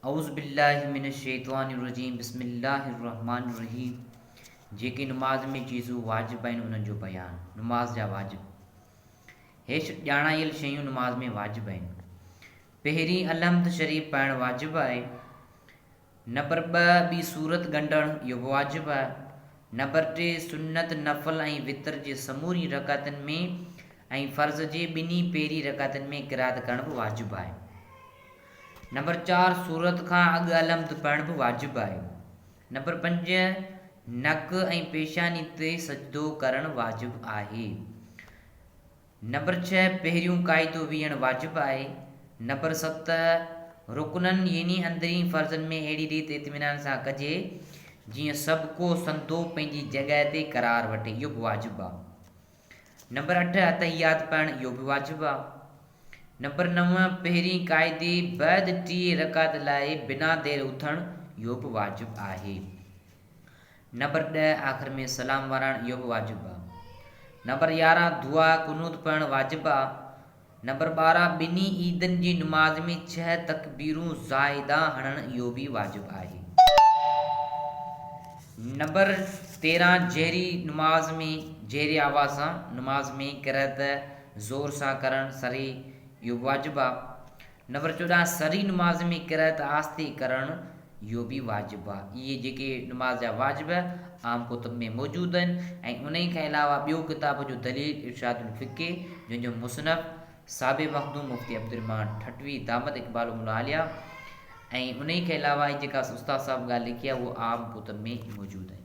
اعوذ باللّٰه من الشّيطان الرّجيم بسم اللّٰه الرّحمٰن الرّحيم جيڪي نماز ۾ چيزون واجب آهن انهن جو بيان، نماز جا واجب، هيٺ ڄاڻايل شيون نماز ۾ واجب آهن، پهرين الحمد شريف پڙهڻ واجب آهي، نمبر ٻه ٻي سورت ڳنڍڻ اهو به واجب آهي، نمبر ٽي سنّت، نفل ۽ وتر جي سمورين رڪعتن ۾ ۽ فرض جي ٻنهي پهرين رڪعتن ۾ قرات ڪرڻ به واجب آهي. نمبر چار، سورت کان اڳ الحمد پڙهڻ به واجب آهي. نمبر پنج، نڪ ۽ پيشاني تي سجدو ڪرڻ واجب آهي. نمبر ڇهه، پهريون قاعدو ويهڻ واجب آهي. نمبر ست، رڪنن يعني اندرين فرضن ۾ اهڙي ريت اطمينان سان ڪجي جيئن سڀڪو سنڌو پنهنجي جڳهه تي قرار وٺي، اهو به واجب آهي. نمبر اٺ اتحيات پڙهڻ اهو به واجب آ. نمبر نو پهرين قاعدي بعد ٽي رڪعت لاء بنا دير اٿڻ اهو به واجب آهي. نمبر ڏهه آخر ۾ سلام وراڻ اهو به واجب آ. نمبر يارهن دعا قنوت پڙهڻ واجب آ. نمبر ٻارهن، ٻنهي عيدن جي نماز ۾ ڇهه تڪبيرون زائده هڻڻ اهو به واجب آهي. نمبر تيرهن، جهري نماز ۾ جهري آواز سان نماز ۾ قرئت زور سان ڪرڻ، سري، اهو به واجب آهي. نمبر چوڏهن، سري نماز ۾ قرائت آهستي ڪرڻ، اهو به واجب آهي. اهي جيڪي نماز جا واجب عام ڪتب ۾ موجود آهن ۽ انهيء کان علاوه ٻيو ڪتاب جو دليل ارشاد الفقه جنهن جو مصنف صاحب مخدوم مفتي عبدالرحمان ٺٽوي دامت اقبالهم العاليه ۽ انهيء کان علاوه هي جيڪا استاد صاحب ڳالهه لکي آهي اهو عام ڪتب ۾ موجود آهن.